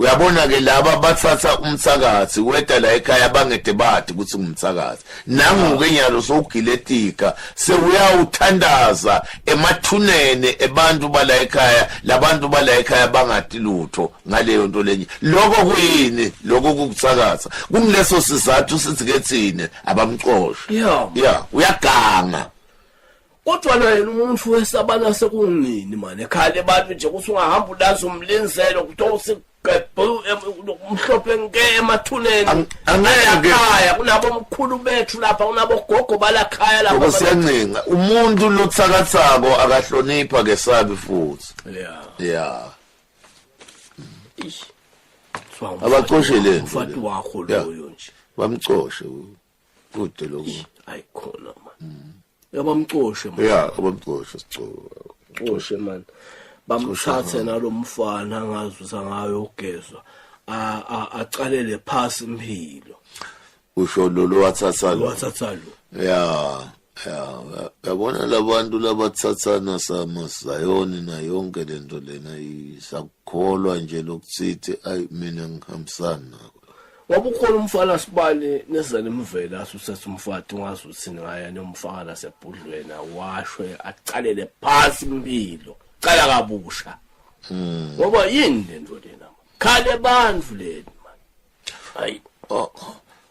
uyabona ke laba bathatha umthakathi weda la ekhaya bangede bathi ukuthi ngumthakathi nanguke nyalo sowugiletika sewuyawuthandaza emathunene ebantu bala ekhaya labantu bala ekhaya bangati lutho ngaleyo nto lenye lokho kuyini lokho kukuthakatha kungileso sizathu sithi ke thina abamxoshe yeah uyaganga kodwa naye umuntu wesabana sekunini mani ekhale abantu nje ukuthi ungahamba ulazi umlinzelo kuthiwa usigebhu umhlophe nke emathuneni Ang- angeke. Alakhaya, kunabo mkhulu bethu lapha kunabo gogo balakhaya lapha ngoba siyancenga umuntu lothakathako akahlonipha kesabi futhi Yeah. ya Ish. Kuthiwa abacoshe le nto umfati le. wakho Yeah. loyo nje bamcoshe u- kude lokho hayi khona ma yabamcoshe ma ya abamcoshe sicoko coshe man bamthathe nalomfana angazi usangayo ugezwa a- a- aqalele phasi impilo usho lolu wathatha lo wathatha lo ya ya yabona labantu labathathana sama sayoni na yonke lento lena isakukholwa nje lokusithi ayi mina ngihambisana nako wabukhona umfana sibale nezana imvela asusethe umfati ungazi ukuthi ngaya nomfana nasebhudlwena washwe acalele phansi impilo cala kabusha hmm. ngoba yini lento lena khale abantu leni manje hayi oh, oh.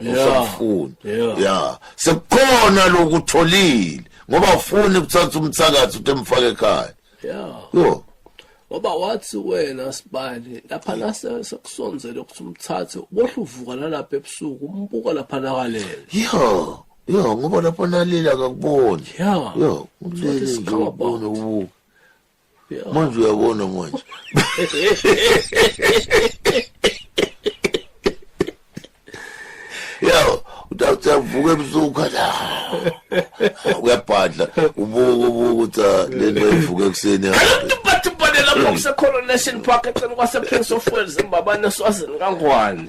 usafuna ya sekukhona lokutholile ngoba ufuni ukuthatha umthakathi uthi emfake ekhaya yo ngoba wathi wena sibali lapha nase sekusonzele ukuthi umthathe ubohle uvuka nalapha ebusuku umbuka lapha nakalele yo yo ngoba lapho nalile akakuboni yo ulele nje ubone ubuka manje uyabona manje yo utawuthi avuka ebusuku la uyabhadla ubuka ubuka ukuthi ah, le nto ivuka ekuseni lapho kusecoronation park eceleni kwaseprince of wales embabane eswazini kangwane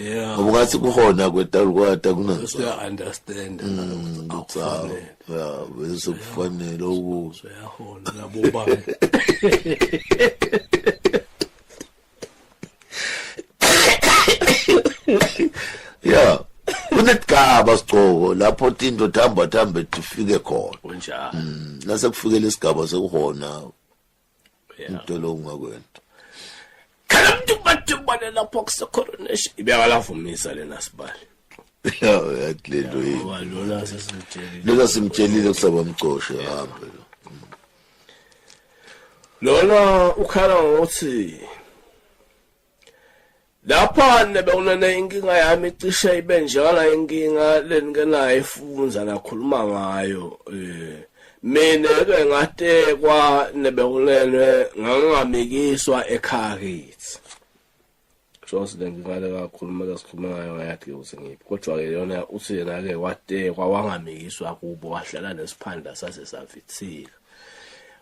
yeah ngoba ngathi kuhona kwetawula kwata kunansi uya understand mm, akufanele ya bese kufanele ukuzwe yahola labo bani yeah kunegaba sigcoko lapho tinto thamba thamba tifike khona kunjalo mm, nase kufikela isigaba sekuhona into lo ungakwenta khala umuntu kubathibane lapho kusecoronation ibeyalafumisa lena sibali yathi lento yini lona sesimtshelile lona simtshelile kusaba mgcoshe hambe lo lona ukhala ngokuthi Lapha nebe unene inkinga yami icishe ibe njengala inkinga lenike naye ifunza nakhuluma ngayo eh mina ke ngatekwa nebe unene ngangamikiswa ekhaya kithi Jones le nkinga le kakhuluma lesikhuluma ngayo ngayathi ukuthi ngiphi kodwa ke yona uthi yena ke watekwa wangamikiswa kubo wahlala nesiphanda sase savithika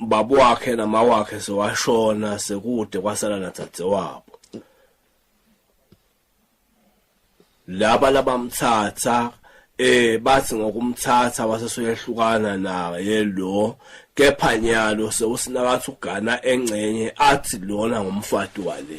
baba wakhe nama wakhe sewashona sekude kwasala nathadze wabo laba labamthatha eh bathi ngokumthatha wasesuyehlukana naye lo kepha nyalo sewusinakathi ugana engcenye athi lona ngumfati wale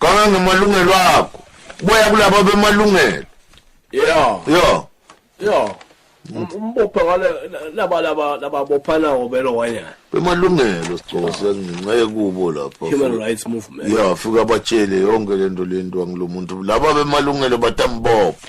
ganga ngamalungelo akho boya kulabo bemalungelo yeah yeah yeah um, umbophe ngale laba laba laba bophana ngobelo wanyana bemalungelo sicosi ngenxe kubo lapha human rights movement yeah fika batshele yonke lento lento angilomuntu laba bemalungelo batambopha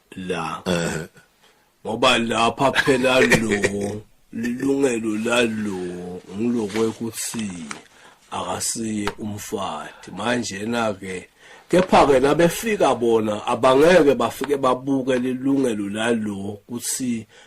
la eh ngoba lapha phela lo lilungelo lalo ngilokwe ukuthi akasiye umfati manje na ke kepha ke nabefika bona abangeke bafike babuke lilungelo lalo ukuthi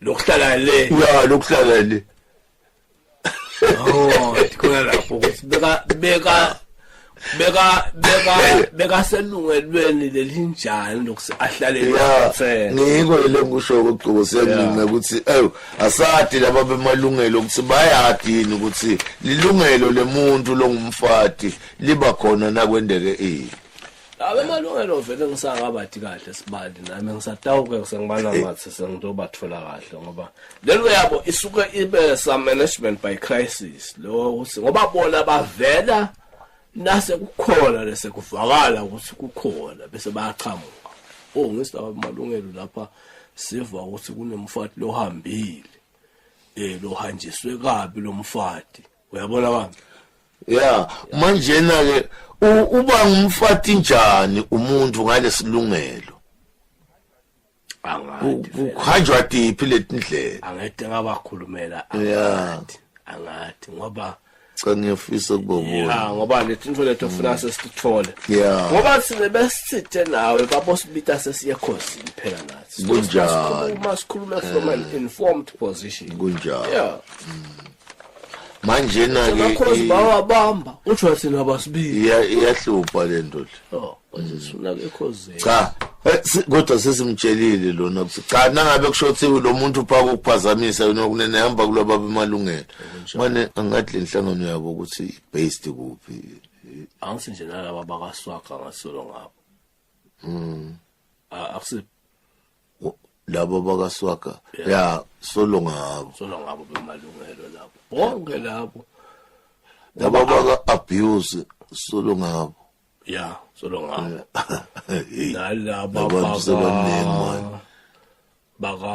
lokuhlala le ya lokuhlala le oh khona lapho ukuthi beka beka beka beka beka selungelweni lelinjani lokuthi ahlale lapha ngiko le ngisho ukuqobo siyangina ukuthi ayo asadi laba bemalungelo ukuthi bayadini ukuthi lilungelo lemuntu longumfati liba khona nakwendeke ini abemalungelo vele ngisakabadi kahle sibali nami ngisatawuke ngisengibala ngathi sengizobathola kahle ngoba lento yabo isuke ibe some management by crisis lo ukuthi ngoba bona bavela nase kukhona lese kuvakala ukuthi kukhona bese bayaqhamuka oh ngisaba amalungelo lapha siva ukuthi kunomfati lohambile eh lohanjiswe kabi lomfati uyabona baba ya manjena ke uba ngumfati njani umuntu ngalesilungelo kuhanjwa tiphi letindlela angete ngabakhulumela angathi angathi ngoba cha ngiyafisa kubona ya ngoba letinto lethu ofuna sesithole ya ngoba sine besithe nawe babo sibita sesiye khosi phela nathi kunjani uma sikhuluma from an informed position kunjani ya mm. manje na ke bakhozi bawabamba uthi thina abasibili iyahlupha le nto le oh uzisula ke khozi cha eh, kodwa sesimtshelile lona ukuthi cha nangabe kushothiwe lo muntu uphaka ukuphazamisa yona kunene hamba kulaba bemalungelo manje angathi le nhlangano yabo ukuthi based kuphi angisi nje nalaba bakaswaga ngasolo ngabo mm akusi labo bakaswaga ya solo ngabo solo ngabo bemalungelo labo bonke labo laba baka abuse solo ngabo ya solo ngabo nalaba baka baka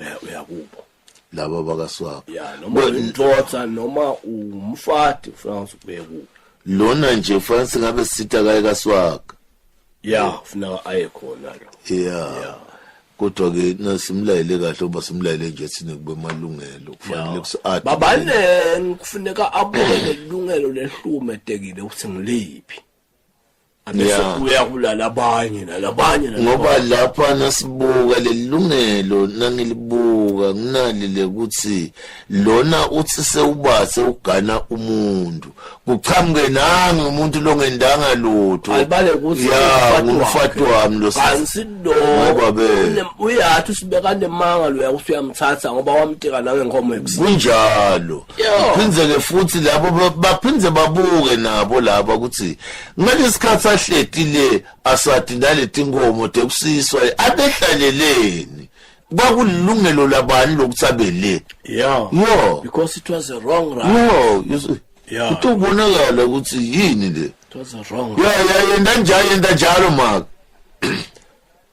uya- uyakubo laba bakaswapha ya noma umtotsa noma umfati ufuna ukuthi ubuye kubo lona nje kufanele singabe sitha kaye kaswaka ya ufuna aye khona lo ya kodwa ke nasimlayele kahle uba simlayele nje thina kube malungelo kufanele kusi-ade babaneni kufuneka abuke lelungelo lehlume tekile ukuthi ngiliphi bese uyabulala abanye nalabanye ngoba lapha nasibuka lelilungelo nangilibuka nginalile ukuthi lona uthi sewubase ugana umuntu kuqhamuke nange umuntu longendanga lutho alibale ukuthi ya ngumfati wami lo sisi ngoba be uyathi usibeka nemanga lo yakuthi uyamthatha ngoba wamteka nawe inkomo ekusini kunjalo phindze-ke futhi labo ba- baphinde babuke nabo laba ukuthi ngalesi sikhathi ahleti le asadi naleti nkomo tekusiswa abehlaleleni kwakulilungelo labani lokuthi abe le yeah yo because it was a wrong run yo you see, Yeah. kuthi ubonakala ukuthi yini le it was a wrong run ya ya yenda njalo yenda njalo maka